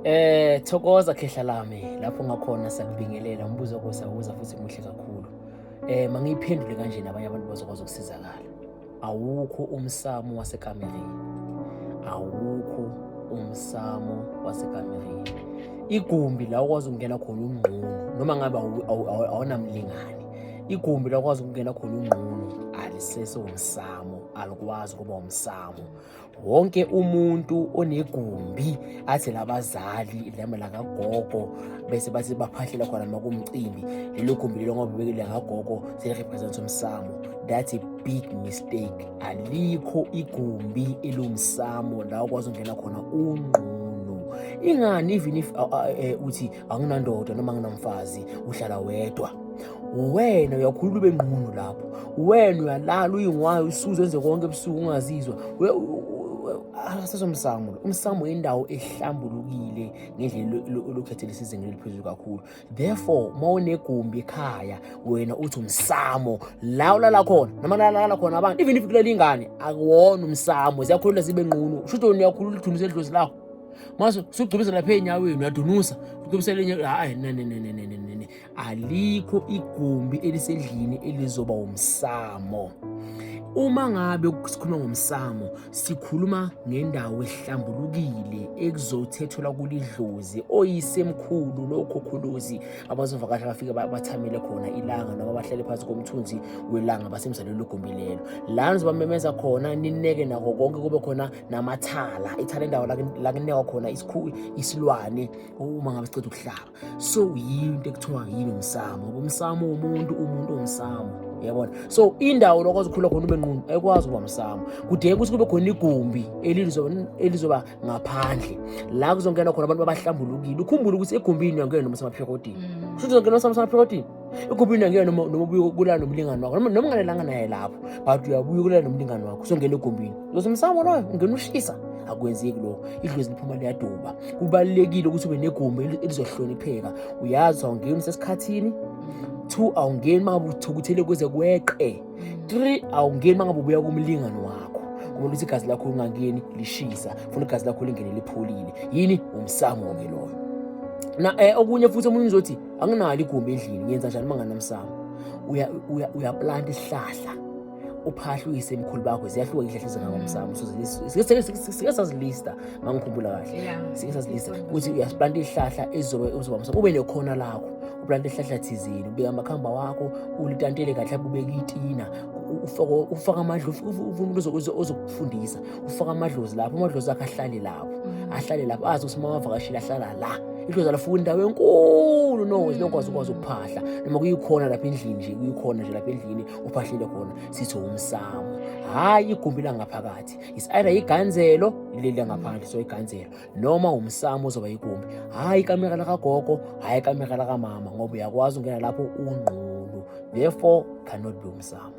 Eh thokoza khehla lami lapho ngakhona sakubingelela umbuzo wakho sawuza futhi muhle kakhulu. Eh mangiyiphendule kanje nabanye abantu bazokwazi ukusizakala. Awukho umsamo wasekamereni. Awukho umsamo wasekamereni. Igumbi la ukwazi ukungena khona ungqunu noma ngabe awunamlingani. Igumbi la ukwazi ukungena khona ungqunu aliseso umsamo alikwazi kuba umsamo wonke umuntu onegumbi athi labazali lama lakagogo bese bathi baphahlela khona noma kumcimbi lelo gumbi lelo ngoba bekele kagogo selirepresents umsamo that's a big mistake alikho igumbi elumsamo la ukwazi ungena khona ungqunu ingani even if uh, uh, uh, uthi anginandoda noma nginamfazi uhlala wedwa uwena uyakhulula ube nqunu lapho uwena uyalala uyingwayo usuze enze konke ebusuku ungazizwa asesomsamo umsamo indawo ehlambulukile ngendlela olukhethela isizingeni eliphezulu kakhulu therefore uma unegumbi ekhaya wena uthi umsamo la ulala khona noma lalala khona abantu even if kulala ingane akuwona umsamo ziyakhulula zibe nqunu shuthi wena uyakhulula ithunzi edlozi lakho mase sugcubisa lapha enyaweni uyadunusa ugcubisela enyaweni hayi nenenenenenene alikho igumbi elisedlini elizoba umsamo uma ngabe sikhuluma ngomsamo sikhuluma ngendawo ehlambulukile ekuzothethelwa kulidlozi oyisemkhulu lokho khuluzi abazovakasha bafike bathamele khona ilanga noma bahlale phansi komthunzi welanga basemzalweni logumbi lelo lana zibamemeza khona nineke nako konke kube khona namathala ithala indawo la kunekwa khona isilwane uma ngabe siceda ukuhlaba so yini into ekuthiwa yini umsamo ngoba umsamo womuntu umuntu umsamo yabona so indawo lokwazi ukukhula khona ube nqunu ekwazi ukuba msamo kudingeka ukuthi kube khona igumbi elizoba ngaphandle la kuzongena khona abantu abahlambulukile ukhumbule ukuthi egumbini uyangena nomsamaphekotini mm. shuthi uzongena nomsamaphekotini ekubina kuyena noma noma ubuye ukulala nomlingani wakho noma noma ungalelanga naye lapho but uyabuya ukulala nomlingani wakho usongena egumbini uzothi msamo loyo ungena ushisa akwenzeki lokho idlozi liphuma liyaduba kubalulekile ukuthi ube negumbi elizohlonipheka uyazi awungeni usesikhathini two awungeni uma ngabe uthukuthele kuze kweqe three awungeni uma ngabe ubuya kumlingani wakho kumele ukuthi igazi lakho lingangeni lishisa funa igazi lakho lingene lipholile yini umsamo-ke loyo na um okunye futhi omunye uzothi anginalo igumbi endlini ngenza njani uma nganamsamo uyaplanta isihlahla uphahla uyise emkhulu bakho ziyahluka ihlahla ezingangamsamo sike sazilista mangikhumbula kahle sike sazilista ukuthi uyasiplanta ihlahla ezizobe uzoba msamo ube nekhona lakho uplanta ihlahla thizini ubeka amakhamba wakho ulitantele kahle ubeka itina ufaka amadla ufuna umuntu ozokufundisa ufaka amadlozi lapho amadlozi akhe ahlale lapho mm. ahlale lapho azi ukuthi uma wavakashile ahlala la idlozi alafuna indawo enkulu no zinokwazi ukwazi ukuphahla noma kuyikhona lapha endlini nje kuyikhona nje lapha endlini uphahlile khona sithi umsamo hhayi igumbi langaphakathi is either iganzelo leli langaphandle so iganzelo noma umsamo ozoba igumbi hhayi ikamera lakagogo hhayi ikamera lakamama ngoba uyakwazi ukungena lapho ungqulu therefore cannot be umsamo